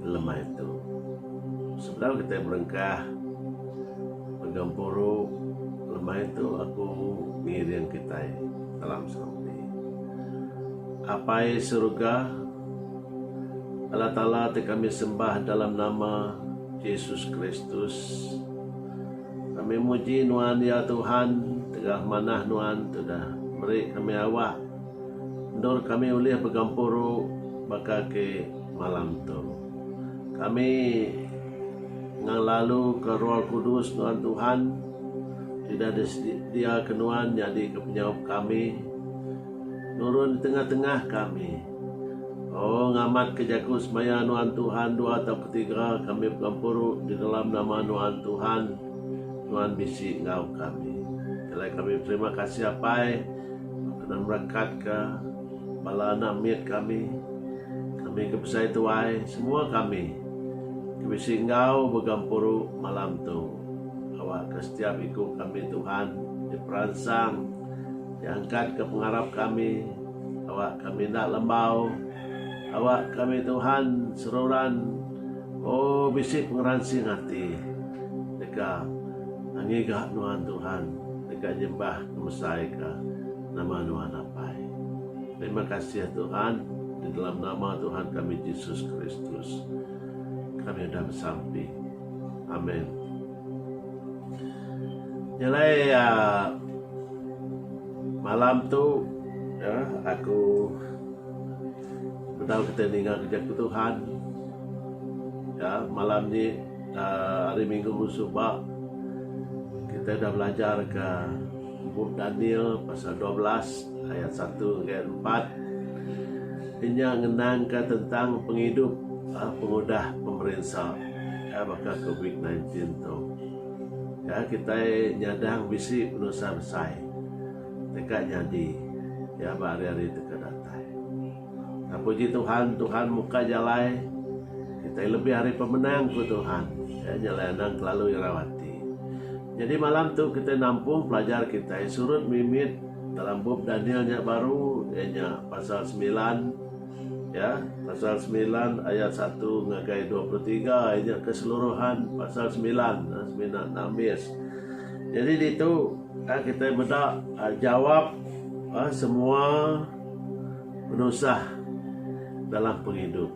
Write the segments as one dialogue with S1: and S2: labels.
S1: Lema itu, sebedau kitai belengkah begempuru, lema itu aku ngiring kitai dalam serupi. Apai Surga, Allah Taala ti kami sembah dalam nama Jesus Kristus, kami muji Nuan ya Tuhan tegah manah Nuan ti udah meri kami awak endur kami ulih begempuru baka ke Malam tu, kami ngelaluka Roh Kudus nuan Tuhan, sida disediaka nuan nyadika penyaup kami, nurun di tengah-tengah kami. O, ngamatka jaku semaya nuan Tuhan dua atau ketiga kami begempuru di dalam nama nuan Tuhan, nuan bisi enggau kami. Keleh kami beterima kasih Apai, kena merekatka. Bala anak mit kami, kami ke besai tuai, semua kami ke bisi enggau begempuru malam tu. Awakka setiap iku kami Tuhan diperansang, diangkatka pengarap kami, awak kami enda lembau. Awak kami Tuhan seruran o bisi pengeransing ati deka ngigah nuan Tuhan, deka nyembah ngemesaika. Nama nuan apai. Terima kasih Tuhan, di dalam nama Tuhan kami Jesus Kristus kami udah besampi. Amin. Nyelai uh, ah, malam tu ya, aku tahu kita ninga kerja ke Tuhan. Ya, malam ni uh, hari Minggu musuh kita dah belajar ke Bup Daniel pasal dua belas ayat satu enggai empat nya ngenangka tentang pengidup pengudah pemerinsa baka covid sembilan belas tu. Ya kitai nyadang bisi penusah besai deka nyadi ba hari-hari deka datai. Puji Tuhan, Tuhan muka jalai kitai lebih ari pemenang, ku Tuhan. Iya nyalai anang kelalu irau ati. Nyadi malam tu kitai nampung pelajar kitai surut mimit dalam bup Daniel nya baru, iya nya pasal semilan, ya, pasal semilan ayat satu ngagai dua puluh tiga, iya nya keseluruhan pasal semilan, ha, semina nambis. Nyadi ditu, ha, kitai meda, ha, jawab, ha, semua. Penusah dalam pengidup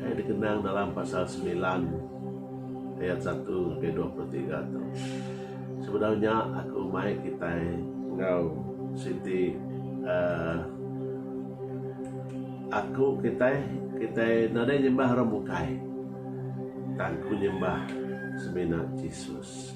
S1: ai dikenang dalam pasal semilan ayat satu ngagai dua puluh tiga tu. Sebedau nya aku mai kitai enggau siti uhh aku kitai kitai nadai nyembah orang bukai tang ku nyembah semina Jesus.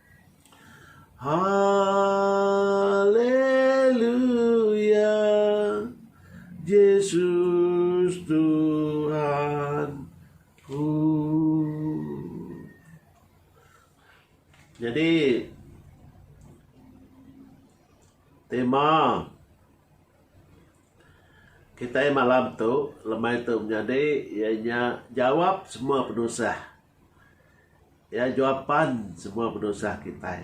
S1: Haleluya Jesus Tuhanku Jadi tema kitai malam tu lemai tu menyadi iya nya jawab semua penusah. Iya jua pan semua penusah kitai.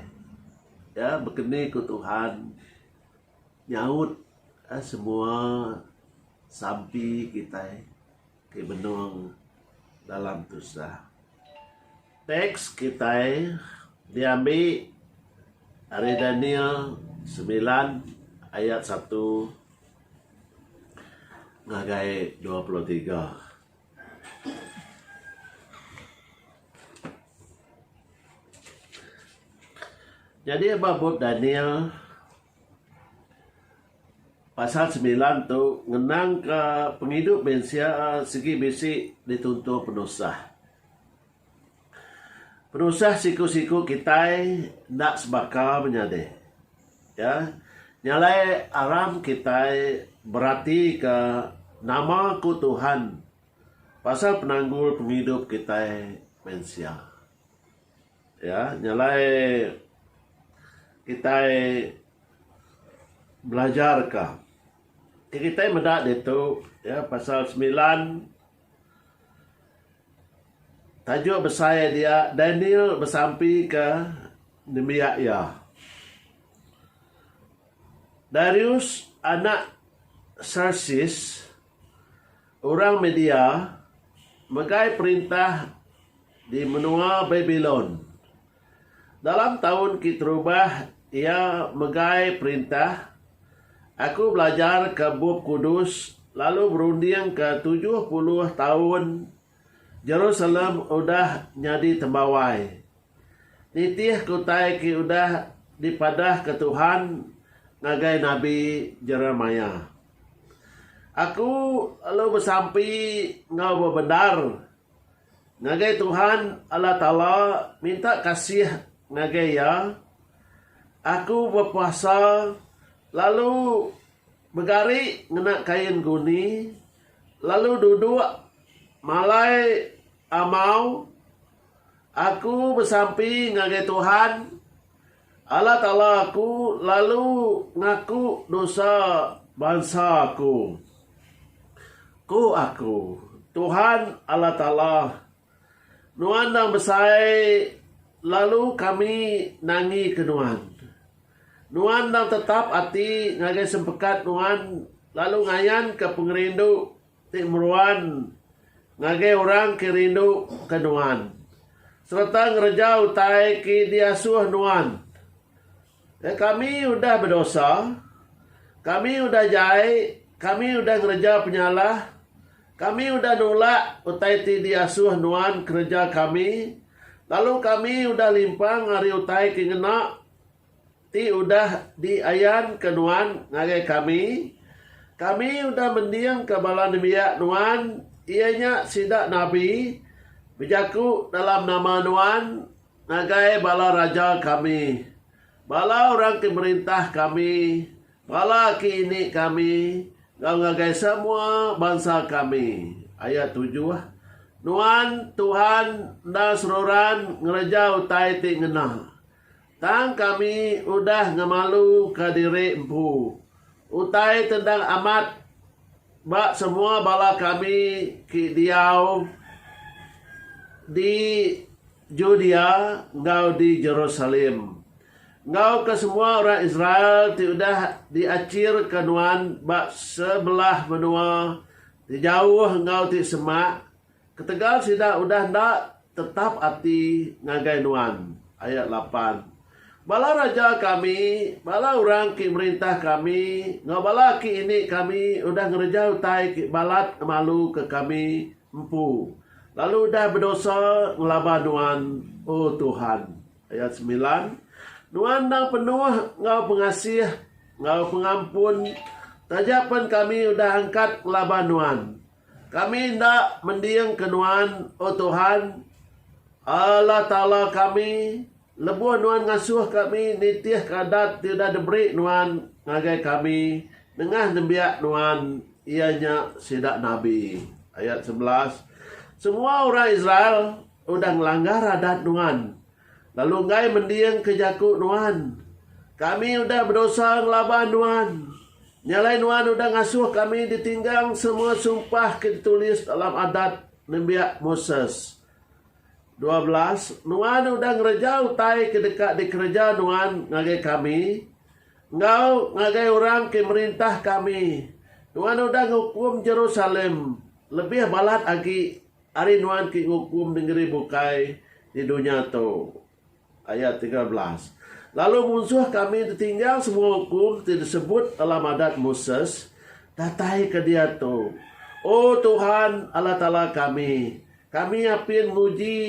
S1: Iya bekeni ku Tuhan nyaut semua sampi kitai ti benung dalam tusah. Tax kitai diambi ari Daniel semilan ayat satu ngagai dua puluh tiga. Nyadi ba bup Daniel pasal semilan tu ngenangka pengidup mensia sigi bisi dituntung penusah. Penusah siku-siku kitai enda sebaka menyadi. Iya nyalai aram kitai beratika nama ku Tuhan pasal penanggul pengidup kitai mensia. Iya nyalai kitai belajarka. Kitai meda ditu pasal semilan. Tajuk besai dia Daniel besampi ke nembiak iya. Darius anak Xerxes orang Media megai perintah di menua Babilon. Dalam taun ke terubah iya megai perintah, aku belajarka Bup Kudus lalu berundingka tujuh puluh taun Jerusalem udah nyadi tembawai. Nitihka utai ke udah dipadahka Tuhan ngagai nabi Jeremiah. Aku lalu besampi enggau bebendar. Ngagai Tuhan, Allah Taala, minta kasih ngagai Iya, aku bepuasa lalu begari ngena kain guni, lalu duduk malai amau. Aku besampi ngagai Tuhan. Allah Taala aku lalu ngaku dosa bansa aku. Ku aku, Tuhan Allah Taala, Nuan endang besai lalu kami nangika Nuan. Nuan endang tetap ati ngagai sempekat Nuan lalu ngayanka pengerindu Ti meruan ngagai orang ke rindu ke nuan sereta ngereja utai ke diasuh nuan. Ke kami udah bedosa, kami udah jai, kami udah ngereja penyalah, kami udah nulak utai ti diasuh nuan kereja kami, lalu kami udah limpang ari utai ke ngena. Ti udah diayanka Nuan ngagai kami, kami udah mendingka bala nembiak Nuan, iya nya sida nabi, bejaku dalam nama Nuan ngagai bala raja kami, bala orang ti merintah kami, bala aki ini kami, enggau ngagai semua bansa kami. Ayat tujuh, Nuan, Tuhan, enda seruran ngereja utai ti ngena. Tang kami udah ngemaluka diri empu. Utai ti endang amat ba semua bala kami ke diau di Judea enggau di Jerusalem, enggau ke semua orang Israel ti udah diachirka nuan ba sebelah menua ti jauh enggau ti semak, Ketegal sida udah enda tetap ati ngagai nuan. Ayat lapan. Bala raja kami, bala orang ke merintah kami, enggau bala aki ini kami udah ngereja utai ke balat ngemaluka kami empu, lalu udah bedosa ngelaba nuan, O Tuhan. Ayat semilan. Nuan endang penuh enggau pengasih enggau pengampun, taja pen kami udah angkat ngelaba nuan. Kami enda mendingka Nuan, O Tuhan, Allah Taala kami, lebuh Nuan ngasuh kami nitihka adat ti udah diberi Nuan ngagai kami nengah nembiak Nuan, iya nya sida nabi. Ayat sebelas, Semua orang Israel udah ngelanggar adat Nuan, lalu enggai mendingka jaku Nuan. Kami udah bedosa ngelaban Nuan. Nya alai nuan udah ngasuh kami ditinggang semua sumpah ke ditulis dalam Adat Nembiak Moses. Dua belas, nuan udah ngereja utai ke deka dikereja nuan ngagai kami enggau ngagai orang ke merintah kami. Nuan udah ngukum Jerusalem lebih balat agi ari nuan ke ngukum nengeri bukai di dunya tu. Ayat tiga belas. Lalu munsuh kami ditinggal semua ukum ti disebut dalam Adat Moses datai ke diatu. O Tuhan, Allah Taala kami, kami apin nguji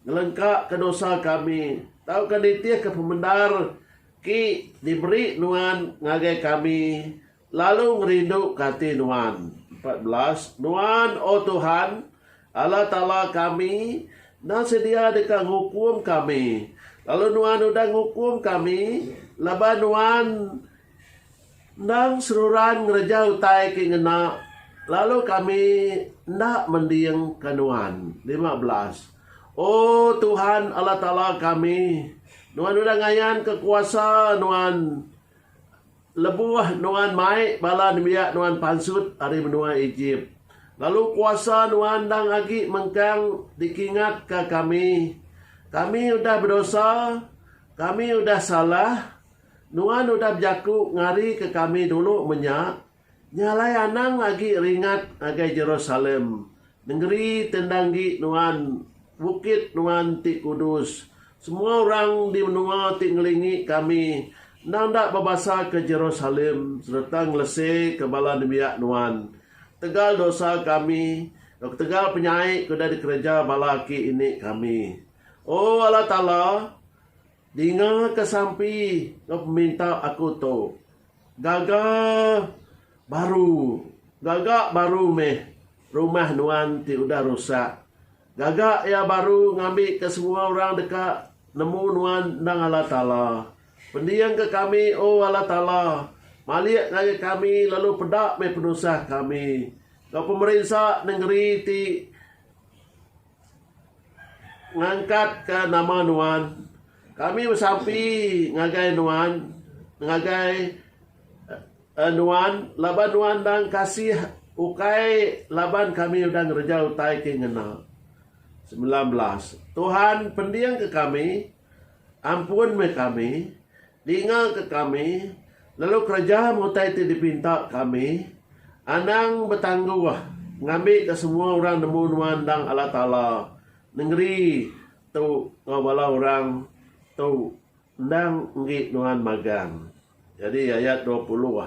S1: ngelengkaka dosa kami tauka nitihka pemendar ki diberi Nuan ngagai kami Lalu ngerinduka ati nuan. Empat belas, Nuan, O Tuhan, Allah Taala kami, enda sedia deka ngukum kami, lalu Nuan udah ngukum kami laban nuan endang seruran ngereja utai ke ngena, lalu kami enda mendingka nuan. Lima belas, O Tuhan, Allah Taala kami, nuan udah ngayanka kuasa nuan. Lebuh nuan mai bala nembiak nuan pansut ari menua Ejip, lalu kuasa nuan endang agi mengkang dikingatka kami, Kami udah bedosa, kami udah salah, nuan udah bejaku ngarika kami dulu menya, nya alai anang agi ringat ngagai Jerusalem, Nengeri ti enda enggi nuan, bukit nuan ti kudus. Semua orang di menua ti ngelingi kami endang enda bebasaka Jerusalem sereta ngeleseka bala nembiak nuan. Ketegal dosa kami, enggau ketegal penyai ke udah dikereja bala aki ini kami. O Allah Taala, dingaka sampi enggau peminta aku tu. Gaga baru. Gaga baru meh rumah nuan ti udah rusak. Gaga iya baru ngambika semua orang deka nemu nuan endang Allah Taala. Pendingka kami, O Allah Taala, malik ngagai kami lalu peda meh penusah kami enggau pemerinsa nengeri ti. Ngangkat ka nama nuan. Kami besampi ngagai nuan ngagai nuan laban nuan endang kasih ukai laban kami udah ngereja utai ti ngena. Semilan belas. Tuhan pendingka kami, ampun meh kami. Dingaka kami, lalu kereja utai ti dipinta kami, anang betangguh ngambika semua orang nemu nuan endang Allah Taala, nengeri tu enggau bala orang tu endang enggi nuan magang. Jadi ayat dua puluh,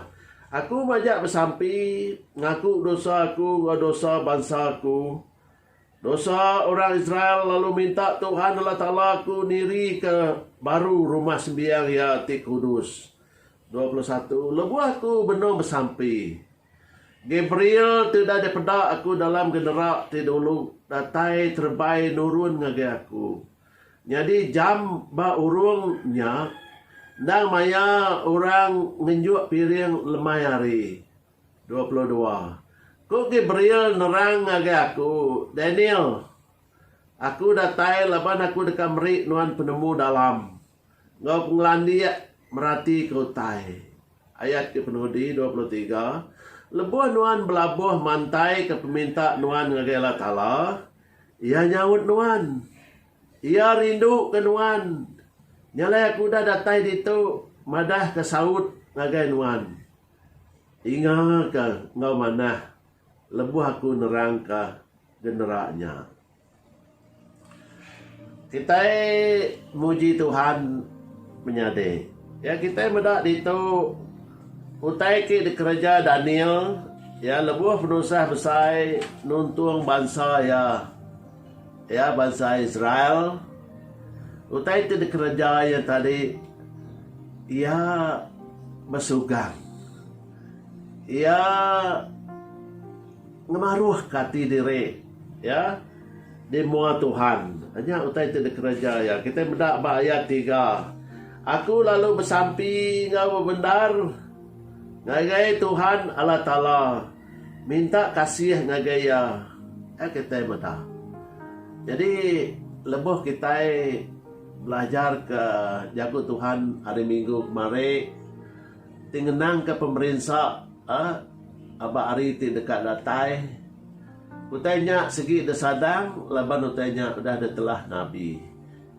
S1: Aku majak besampi ngaku dosa aku enggau dosa bansa aku, Dosa orang Israel lalu minta Tuhan Allah Taala aku nirika baru rumah sembiang Iya ti kudus. Dua puluh satu Lebuh aku benung besampi, Gabriel ti udah dipeda aku dalam genera ti dulu datai terebai nurun ngagai aku. Nyadi jam ba urung nya endang maya orang ngenjuk piring lemai hari. Dua puluh dua. Ku Gabriel nerang ngagai aku, Daniel, aku datai laban aku deka meri nuan penemu dalam enggau pengelandik meratika utai. Ayat ke penudi, dua puluh tiga, Lebuh nuan belabuh mantaika peminta nuan ngagai Allah Taala, Iya nyaut nuan. Iya rinduka nuan. Nya alai aku udah datai ditu madahka saut ngagai nuan. Inga ka enggau manah lebuh aku nerang ka genera nya. Kitai muji Tuhan menyadi. Ya kitai meda ditu utai ke dikereja Daniel ya lebuh penusah besai nuntung bansa iya. Iya bansa Israel. Utai ti dikereja iya tadi, iya besugang. Iya ngemaruhka ati diri iya di mua Tuhan. Nya utai ti dikereja iya. Kitai meda ba ayat tiga, Aku lalu besampi enggau bebendar ngagai Tuhan Allah Taala. Minta kasih ngagai iya, ai kitai meda. Nyadi lebuh kitai belajarka jaku Tuhan hari minggu kemari ti ngenangka pemerinsa ba hari ti deka datai, utai nya sigi disadang laban utai nya udah ditelah nabi.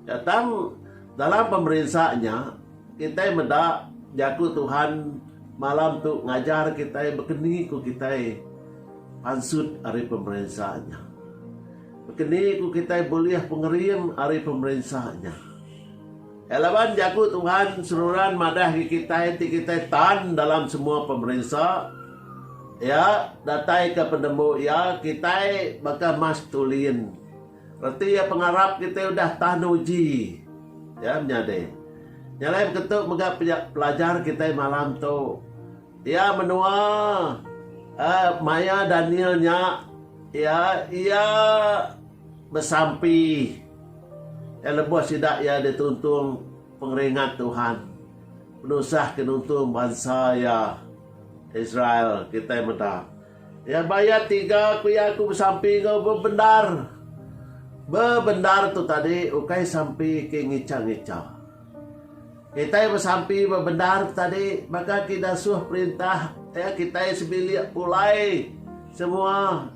S1: Nya tang, dalam pemerinsa nya, kitai meda Jaku Tuhan malam tu ngajar kitai bekeni ku kitai pansut ari pemerinsa nya. Bekeni ku kitai bulih pengering ari pemerinsa nya. Nya laban Jaku Tuhan seruran madah agi kitai ti kitai tan dalam semua pemerinsa Iya dataika penemu Iya, kitai baka mas tulin. Reti iya pengarap kitai udah tah nuji iya menyadi. Nya alai beketu mega pelajar kitai malam tu. Iya menua eh maya Daniel nya iya iya besampi eh lebuh sida iya dituntung pengeringat Tuhan penusah ke nuntung bansa iya Israel kitai meda. Iya mayat tiga ku iya aku besampi enggau bebendar. Bebendar tu tadi ukai sampi ke ngicha-ngicha. Kitai besampi bebendar tu tadi baka ke diasuh perintah iya kitai sebilik pulai semua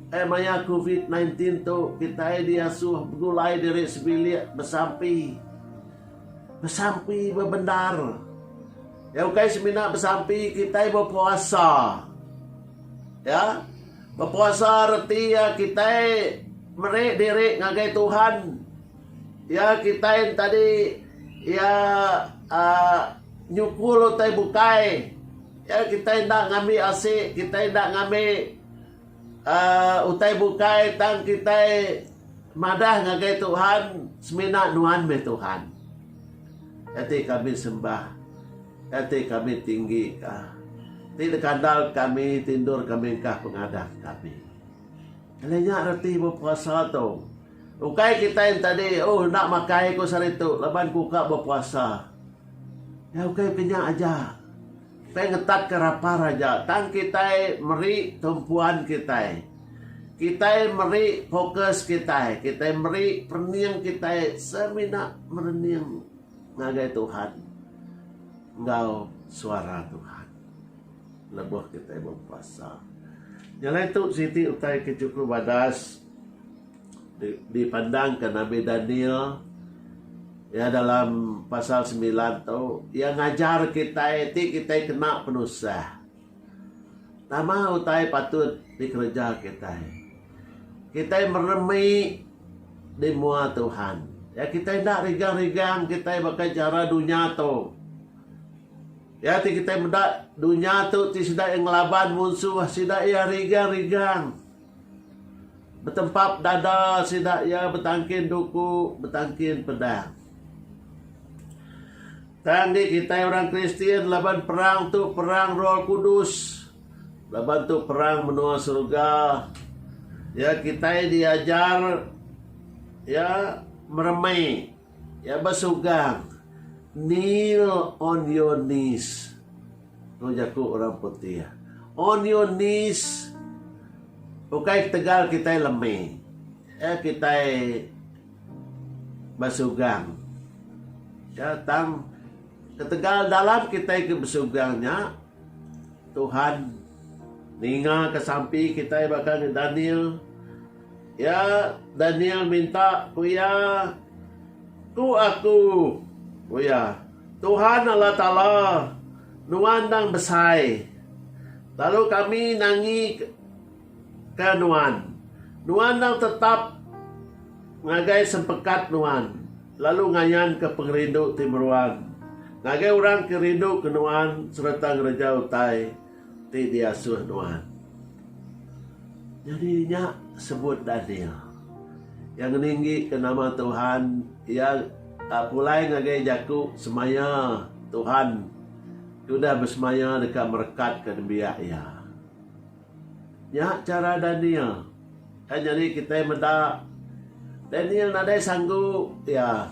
S1: ai maya covid nineteen tu kitai diasuh begulai diri sebilik besampi. Besampi bebendar. Ya ukai semina besampi kitai bepuasa. Ya. Bepuasa reti ya kitai meri diri ngagai Tuhan. Ya kitai entadi ya uh, nyukul utai bukai. Ya kitai enda ngambi asi, kitai enda ngambi Utai bukai tang kitai madah ngagai Tuhan semina nuan meh Tuhan. Kati kami sembah, kati kami tinggi ka. Ti dikandal kami ti endur ka mengkah pengadah kami. Alai nya reti bepuasa tu. Ukai kitai entadi oh enda makai ku saritu laban ku ka bepuasa. Ukai ke nya aja. Kitai ngetatka rapar aja tang kitai meri tumpuan kitai. Kitai meri fokus kitai, kitai meri perening kitai semina merening ngagai Tuhan enggau suara Tuhan lebuh kitai bepuasa. Nyelai tu siti utai ke chukup badas. Dipandangka Nabi Daniel iya dalam pasal semilan tu, iya ngajar kitai ti kitai kena penusah. Nama utai patut dikereja kitai? Kitai meremi di mua Tuhan. Ya kitai enda rigang-rigang kitai baka jara dunya tu. Ya ti kitai meda dunya tu ti sida iya ngelaban munsuh, sida iya rigang-rigang. Betempap dada sida iya betangkin duku, betangkin pedang. Tang agi kitai orang Kristian laban perang tu perang Roh Kudus. Laban tu perang menua serega. Ya kitai diajar ya meremai ya besugang kneel on your knees. Tu jaku orang putih. On your knees. Ukai ketegal kitai lemi. Iya kitai besugang. Iya tang ketegal dalam kitai ke besugang nya Tuhan ninga ke sampi kitai baka ni Daniel. Iya Daniel minta ku iya, Ku aku, ku iya. Tuhan Allah Taala nuan endang besai, lalu kami nangi ke nuan. Nuan endang tetap ngagai sempekat nuan, lalu ngayan ke pengerindu ti meruan ngagai orang ke rindu ke nuan sereta ngereja utai. Ti diasuh nuan. Nyadi nya sebut Daniel. Iya ngeninggika nama Tuhan, iya pulai ngagai jaku semaya Tuhan ti udah besemaya deka merekatka nembiak iya. Nya chara Daniel. Kai nyadi kitai meda Daniel nadai sanggu iya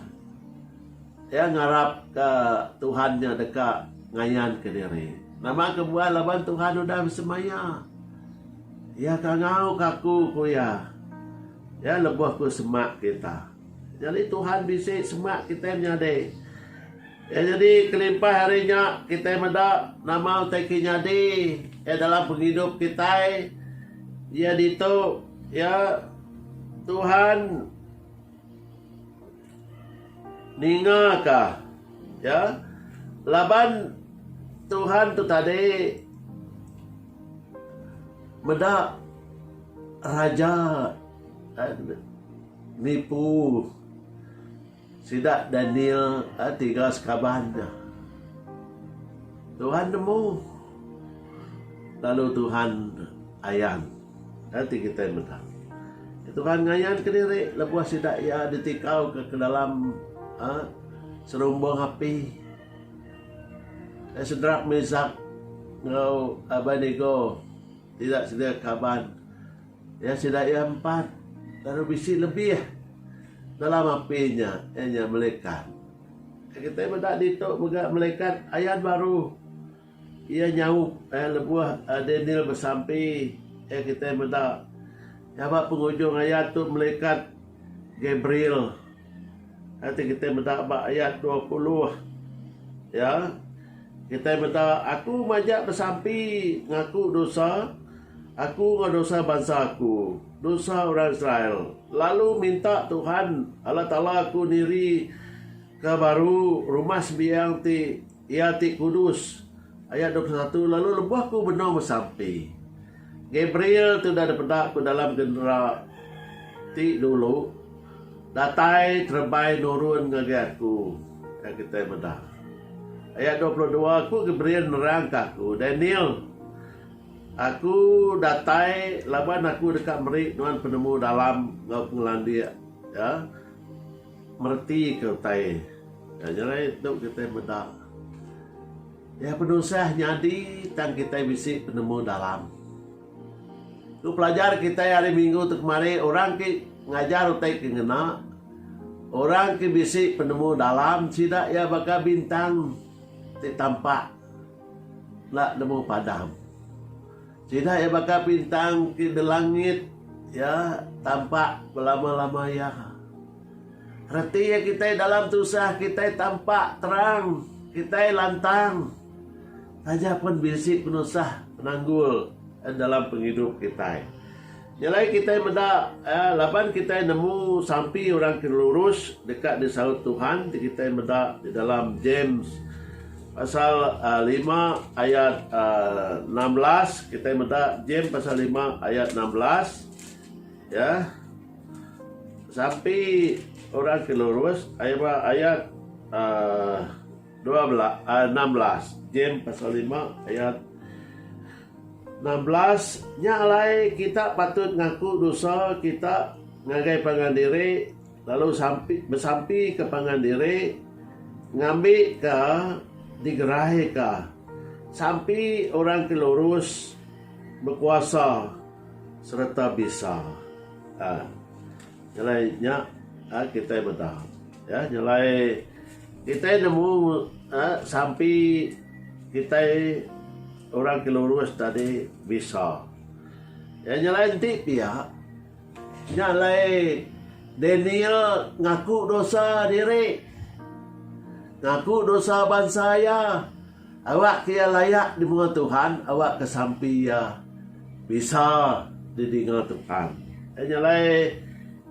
S1: Iya ngarapka Tuhan nya deka ngayanka diri. Nama kebuah laban Tuhan udah besemaya? Iya ke ngauka aku, ku iya. Iya lebuh ku semak kita. Nyadi Tuhan bisi semak kitai menyadi. Iya nyadi kelimpah ari nya kitai meda nama utai ke nyadi iya dalam pengidup kitai. Iya ditu iya Tuhan. Ninga ka. Ya. Laban Tuhan tu tadi meda raja nipu sida Daniel tiga sekaban nya. Tuhan nemu lalu Tuhan ayan. Enti kitai meda, Tuhan ngayanka diri lebuh sida iya ditikauka ke dalam serumbung api. Sedrak, Mesak, enggau Abednego ti enda sedia kaban iya sida iya empat lalu bisi lebih dalam api nya, iya nya melekat. Kitai meda ditu mega melekat ayat baru. Iya nyaup lebuh Daniel besampi iya kitai meda nyabak pengujung ayat tu melikat Gabriel ti kitai meda ba ayat dua puluh iya kitai meda aku majak besampi ngaku dosa aku enggau dosa bansa aku dosa orang Israel lalu minta Tuhan Allah Taala aku niri ke baru rumah sembiang ti Iya ti kudus. Ayat dua puluh satu Lalu lebuh aku benung besampi, Gabriel ti udah dipeda ku dalam genera ti dulu datai terebai nurun ngagai aku, iya kitai meda. Ayat dua puluh dua Ku Gabriel nerangka aku, Daniel, aku datai laban aku deka meri nuan penemu dalam enggau pengelandik, iya. Meretika utai nya nyelai tu kitai meda iya penusah nyadi tang kitai bisi penemu dalam. Ku pelajar kitai hari minggu tu kemari orang ti ngajar utai ke ngena orang ti bisi penemu dalam sida iya baka bintang ti tampak enda nemu padam. Sida iya baka bintang ti dilangit iya tampak belama-lama iya. Reti iya kitai dalam tusah kitai tampak terang, kitai lantang. Taja pun bisi penusah penanggul dalam pengidup kitai. Nya alai kitai meda laban kitai nemu sampi orang ke lurus deka disaut Tuhan ti kitai meda di dalam James pasal lima ayat enam belas kitai meda James pasal lima ayat enam belas ya sampi orang ke lurus ayat ba ayat dua belas enam belas James pasal lima ayat Enam belas, Nya alai kita patut ngaku dosa kita ngagai pangan diri lalu sampi besampika pangan diri ngambika digeraika sampi orang ke lurus, bekuasa sereta bisa. Um Nya alai nya um kitai meda. Ya, nya alai kitai nemu um sampi kitai. Orang ke lurus tadi bisa. Iya nyelai enti pia, nya alai Daniel ngaku dosa diri, ngaku dosa bansa iya, awakka iya layak di menua Tuhan, awakka sampi iya bisa didinga Tuhan. Iya nya alai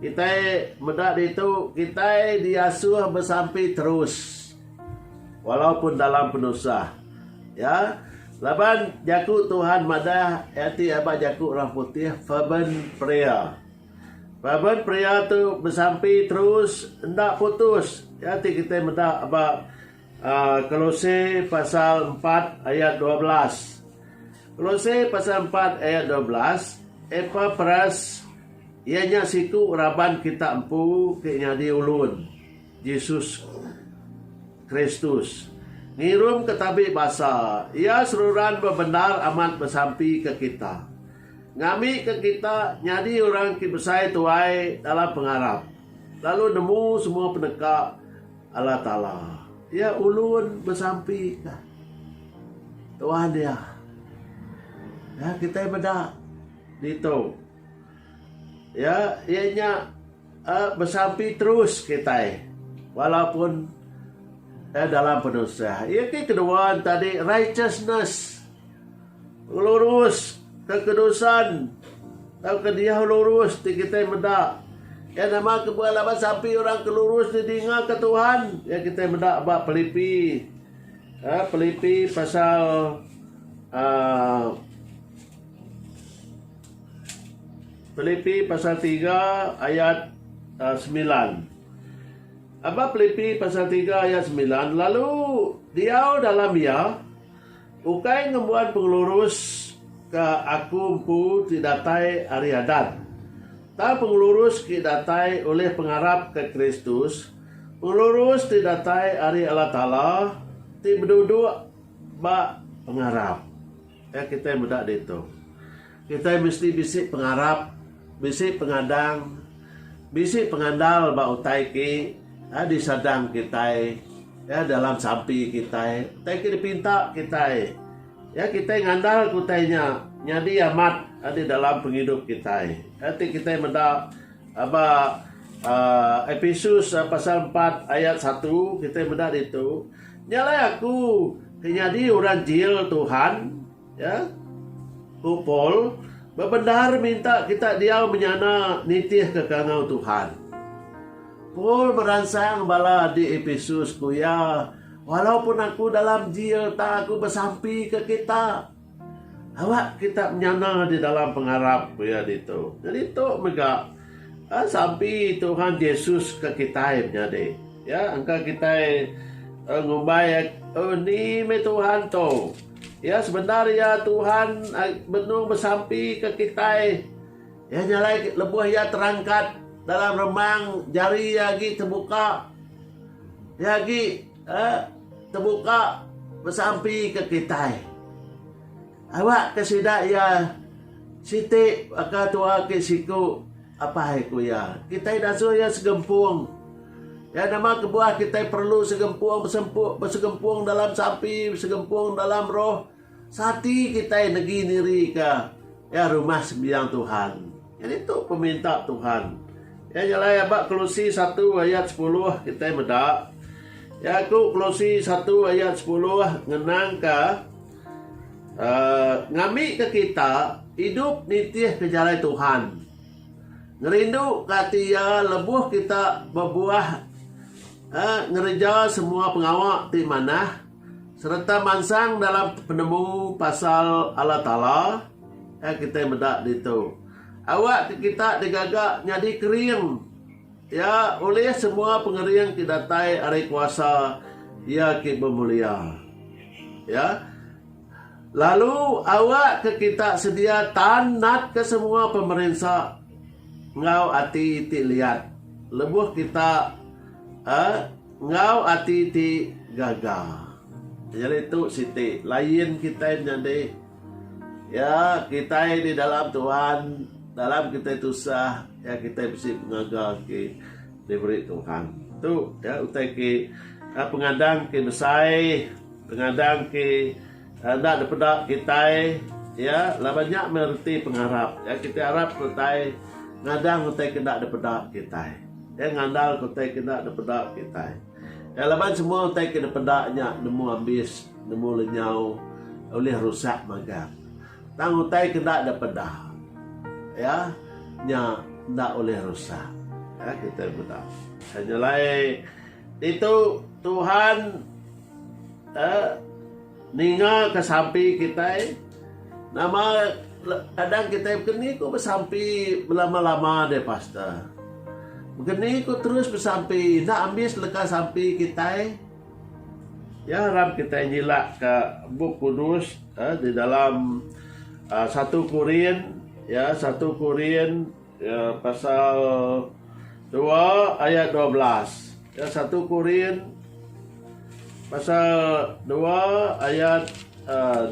S1: kitai meda ditu, kitai diasuh besampi terus. Walaupun dalam penusah. Ya. Laban jaku Tuhan madah iya ti aba jaku orang putih fervent prayer. Fervent prayer tu besampi terus enda putus. Iya ti kitai meda ba uh, Kolose pasal 4 ayat 12. Kolose pasal 4 ayat 12, Epapras iya nya siku raban kita empu ti nyadi ulun. Jesus Kristus ngirum ke tabi basa Iya seruran bebendar amat besampi ke kita, ngambi ke kita nyadi orang ti besai tuai dalam pengarap lalu nemu semua peneka Allah Taala. Iya ulun besampi ke Tuhan iya. Kitai meda ditu iya iya nya. Besampi terus kitai walaupun dalam penusah. Iya ti kedua tadi righteousness lurus kekudusan tauka diau lurus ti kitai meda iya nama kebuah laban sampi orang ke lurus ti dingaga Tuhan iya kitai meda ba Pilipi Pilipi pasal uhh Pelipi pasal tiga ayat semilan. Aba Pelipi pasal tiga ayat semilan lalu diau dalam iya, ukai ngembuan pengelurus ke aku empu ti datai ari adat, tang pengelurus ke datai ulih pengarap ke Kristus, pengelurus ti datai ari Allah Taala ti beduduk ba pengarap. Nya kitai meda ditu. Kitai mesti bisi pengarap, bisi pengadang, bisi pengandal ba utai ke disadang kitai dalam sampi kitai, utai ke dipinta kitai. Iya kitai ngandalka utai nya nyadi amat di dalam pengidup kitai. Nya ti kitai meda ba uhh Episus pasal empat ayat satu kitai meda ditu. Nya alai aku ke nyadi orang jil Tuhan, ya, ku Paul, bebendar minta kita diau menyana nitihka kangau Tuhan. Paul meransang bala di Epesus, ku iya, Walaupun aku dalam jil, tang aku besampi ke kita. Awak kita menyana di dalam pengarap Iya ditu. Ngenitu mega, sampi Tuhan Jesus ke kitai menyadi. Iya engka kitai ngumbai, Ni meh Tuhan tu. Iya sebendar iya Tuhan benung besampi ke kitai. Iya nya alai lebuh iya terangkat dalam remang jari iya agi tebuka. Iya agi. Eh, tebuka besampi ke kitai. Awak ke sida iya siti baka tua ke siku apai ku iya. Kitai dasuh iya segempung. Iya nama kebuah kitai perlu segempung besempu, besegempung dalam sampi, besegempung dalam roh. Sati kitai negi niri ka ya rumah sembiang Tuhan. Ya nitu peminta Tuhan. Ya nyelai aba Kolose satu ayat sepuluh kitai meda ya ku Kolose satu ayat sepuluh ngenang ka Uh, ngambi ke kita idup nitih ke jalai Tuhan. Ngerindu ke ati iya lebuh kita bebuah uh, ngereja semua pengawa ti manah. Sereta mansang dalam penemu pasal Allah Taala yang kitai meda ditu. Awak ke kita digaga nyadi kering iya ulih semua pengering ti datai ari kuasa Iya ke bemulia. Ya. Lalu awak ke kita sedia tan natka semua pemerinsa enggau ati ti liat lebuh kita eh Enggau ati ti gaga. Nyadi tu siti lain kitai menyadi. Iya kitai di dalam Tuhan, dalam kitai tusah, iya kitai bisi pengaga ke diberi Tuhan. Tu iya utai ke pengadang ke besai, pengadang ke. Enda dipeda kitai iya laban nya meh reti pengarap iya. Kitai arap ku utai ngadang utai ke enda dipeda kitai. Iya ngandalka utai ke enda dipeda kitai. Iya laban semua utai ke dipeda nya nemu ambis, nemu lenyau ulih rusak magang. Tang utai ke enda dipeda iya nya enda ulih rusak. Iya kitai meda. Nyelai ditu Tuhan. Te ninga ke sampi kitai nama adang kitai begeni ku besampi belama-lama deh pastor. Begeni ku terus besampi enda ambis leka sampi kitai ya harap kitai nyila ka bup kudus ya di dalam satu korin ya satu korin Ya pasal dua ayat dua belas. Ya satu Korin pasal dua ayat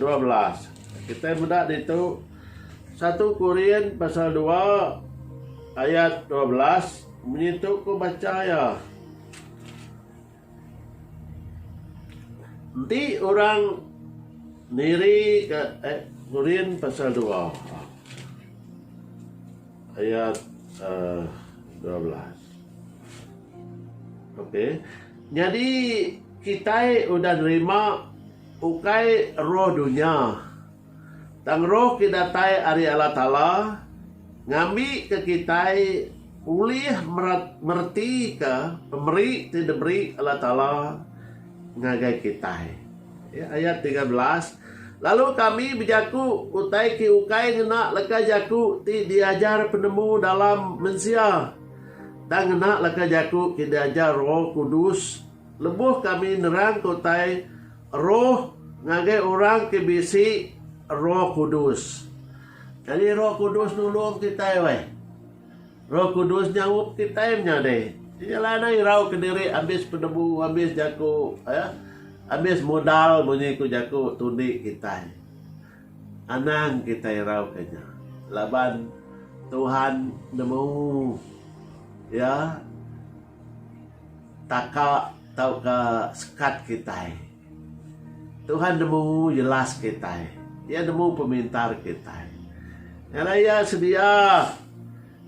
S1: dua belas. Kita meda ditu satu Korin pasal dua ayat dua belas. Munyi tu ku baca ya. Enti orang niri ka Qurin pasal dua ayat dua belas. Okey. Nyadi kitai udah nerima ukai roh dunya. Tang roh ke datai ari Allah Taala ngambika kitai ulih meretika pemeri ti diberi Allah Taala ngagai kitai. Ayat tiga belas Lalu kami bejaku utai ke ukai ngena leka jaku ti diajar penemu dalam mensia, tang ngena leka jaku ke diajar Roh Kudus lebuh kami nerangka utai Roh ngagai orang ti bisi Roh Kudus. Nyadi Roh Kudus nulung kitai weh. Roh Kudus nyaup kitai menyadi. Iya alai enda irau ke diri abis penebu, abis jaku, ya, abis modal munyi ku jaku tundi kitai. Anang kitai irau ke nya laban Tuhan nemu iya. taka tauka sekat kitai. Tuhan nemu jelas kitai. Iya nemu pemintar kitai. Ngena iya sedia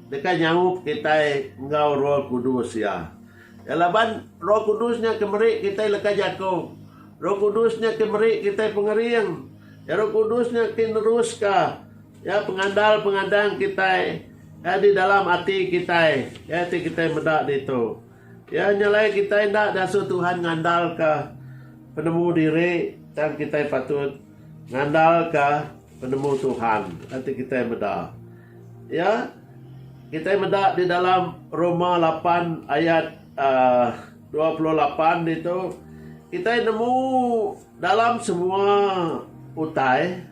S1: deka nyaup kitai enggau Roh Kudus iya. Iya laban Roh Kudus nya ke meri kitai leka jaku. Roh Kudus nya ke meri kitai pengering. Roh Kudus nya ke neruska. Iya pengandal pengadang kitai iya di dalam ati kitai iya ti kitai meda ditu. Iya nyelai kitai enda diasuh Tuhan ngandalka penemu diri tang kitai patut ngandalka penemu Tuhan iya ti kitai meda. Iya kitai meda di dalam Roma lapan ayat aaa dua puluh lapan ditu kitai nemu dalam semua utai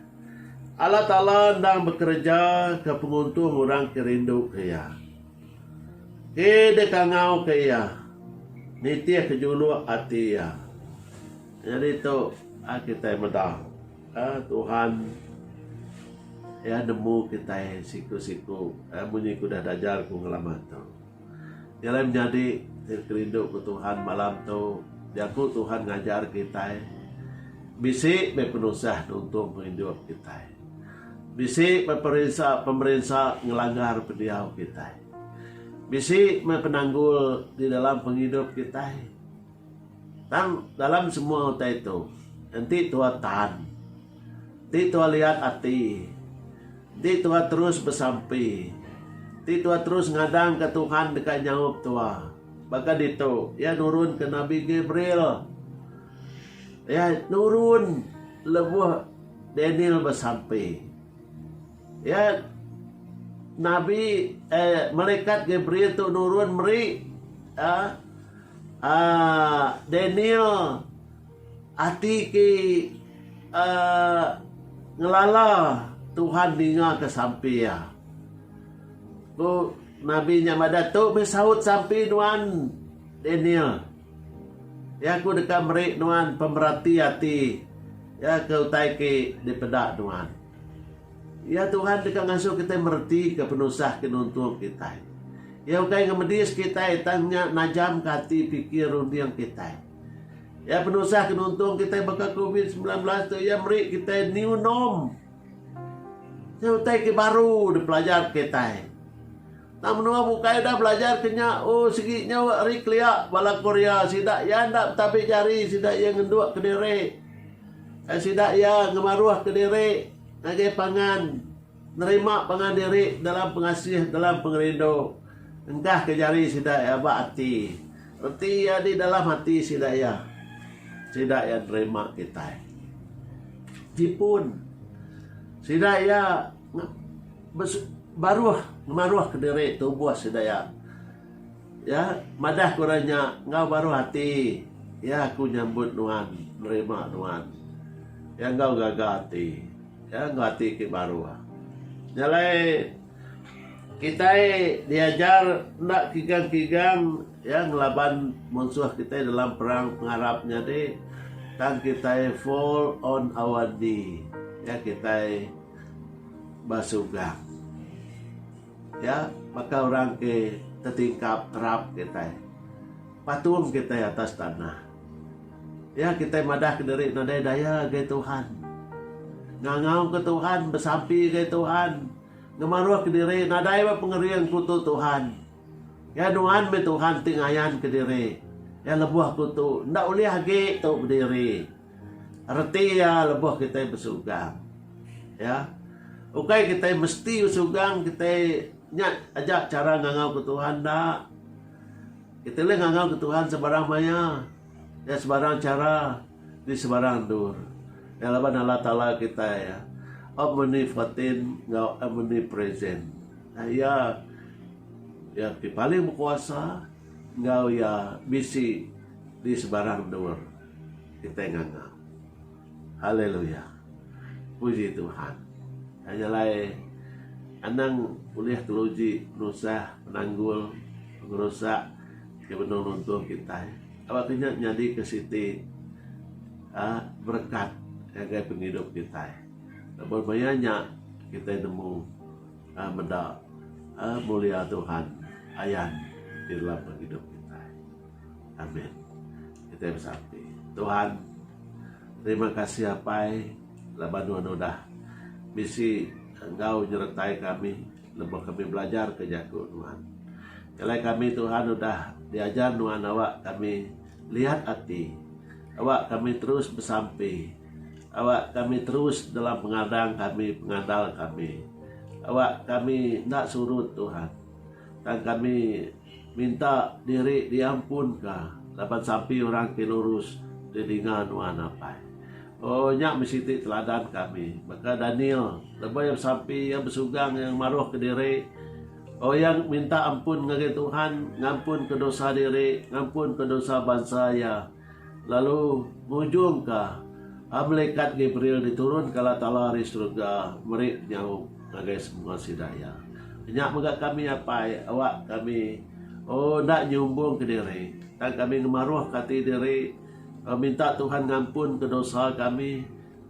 S1: Allah Taala endang bekereja ke penguntung orang ke rindu ke Iya. Ke deka ngau ke Iya, nitih ke juluk ati Iya. Nyadi tu a kitai meda eh Tuhan Iya nemu kitai siku-siku eh munyi ke udah dajar ku ngelama tu. Dialai menyadi ti kerindu ku Tuhan malam tu, jaku Tuhan ngajar kitai bisi meh penusah nuntung pengidup kitai. Bisi meh perinsa pemerinsa ngelanggar pendiau kitai. Bisi meh penanggul di dalam pengidup kitai. Tang dalam semua utai tu, enti Tuhan tan, enti Tuhan liat ati, enti Tuhan terus besampi, enti Tuhan terus ngadangka Tuhan deka nyaup tua. Baka ditu, Iya nurunka Nabi Gabriel. Iya nurun lebuh Daniel besampi. Iya, nabi, eh, malekat Gabriel tu nurun meri, ah, ah, Daniel ati ke, ah, ngelala Tuhan ningaka sampi iya. Ku nabi nya madah, Tu meh saut sampi nuan, Daniel. Iya, ku deka meri nuan pemerati ati iya ke utai ke dipeda nuan. Iya Tuhan deka ngasuh kitai meretika penusah ke nuntung kitai. Iya ukai ngemedis kitai tang nya najamka ati pikir runding kitai. Iya penusah ke nuntung kitai baka covid semilan belas tu iya meri kitai new norm. Nya utai ke baru dipelajar kitai. Tang menua bukai udah belajar ke nya, oh sigi nyau ari kelia bala Korea sida iya enda betabi jari sida iya ngenduk kediri. Ai sida iya ngemaruhka diri ngagai pangan nerima pangan diri dalam pengasih dalam pengerindu engkahka jari sida iya ba ati reti iya di dalam ati sida iya sida iya nerima kitai jipun sida iya baruh ngemaruhka diri tubuh sida iya. Iya madah ku orang nya enggau baruh ati, Iya aku nyambut nuan, nerima nuan. Iya enggau gaga ati, iya enggau ati ti baruh. Nya alai kitai diajar enda kigang-kigang iya ngelaban munsuh kitai dalam perang pengarap nyadi tang kitai fall on our knee. Iya kitai basugang. Iya baka orang ti tetingkap terap kitai. Patung kitai atas tanah. Iya kitai madahka diri nadai daya ngagai Tuhan. Ngangauka Tuhan, besampi ngagai Tuhan, ngemaruhka diri nadai ba pengering kutu Tuhan. Iya nuan meh Tuhan ti ngayanka diri. Iya lebuh kutu enda ulih agi tu bediri. Reti iya lebuh kitai besugang. Iya. Ukai kitai mesti besugang kitai nya aja chara ngangau ke Tuhan enda. Kitai ulih ngangau ke Tuhan sebarang maya, enggau sebarang chara, di sebarang endur. Iya laban Allah Taala kitai iya omnipotent enggau omnipresent. Iya iya ti paling bekuasa enggau iya bisi di sebarang endur. Kitai nganga. Haleluya. Puji Tuhan. Ai nya alai anang ulih keluji penusah, penanggul, pengerusak ke benung nuntung kitai. Aba ke nya nyadika siti uhh berekat ngagai pengidup kitai. Laban maya nya kitai nemu uhh meda uhh mulia Tuhan ayan di dalam pengidup kitai. Amen. Kitai besampi. Tuhan, terima kasih apai laban nuan udah bisi enggau nyeretai kami lebuh kami belajar ke jaku nuan. Jalai kami Tuhan udah diajar nuan awak kami liat ati, awak kami terus besampi, awak kami terus dalam pengadang kami, pengandal kami. Awak kami enda surut Tuhan. Tang kami Minta diri diampunka laban sampi orang ti lurus deh ninga nuan apai. Oh, nya meh siti teladan kami. Baka Daniel, lebuh iya besampi, iya besugang iya ngemaruhka diri. Oh, iya minta ampun ngagai Tuhan, ngampunka dosa diri, ngampunka dosa bansa iya. lalu ngujungka melikat Gabriel diturunka Allah Taala ari serega meri penyaup ngagai semua sida iya. Nya mega kami apai awak kami enda nyumbungka diri tang kami ngemaruhka ati diri minta Tuhan ngampunka dosa kami.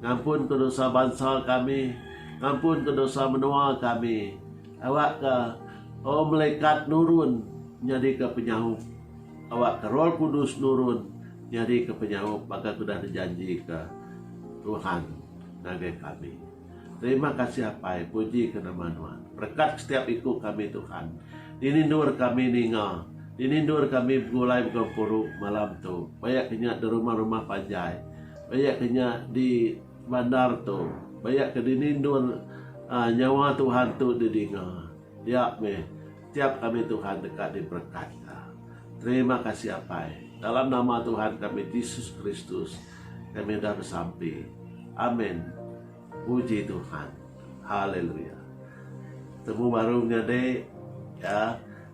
S1: Ngampunka dosa bansa kami, ngampunka dosa menua kami. Awakka, O melekat nurun nyadika penyaup, awakka Roh Kudus nurun nyadika penyaup baka ke udah dijanjika Tuhan ngagai kami. Terima kasih Apai, pujika nama Nuan. Berekat setiap iku kami Tuhan. Dini endur kami ninga, dini endur kami begulai mega empuru malam tu, paya ke nya di rumah-rumah panjai. Baya ke nya di bandar tu. Baya ke dini endur nyawa Tuhan tu di dinga. Nya meh tiap kami Tuhan deka di berekat ka. Terima kasih Apai. Dalam nama Tuhan kami Jesus Kristus kami udah besampi. Amen. Puji Tuhan. Haleluya. Temu baru nya dek. Ya.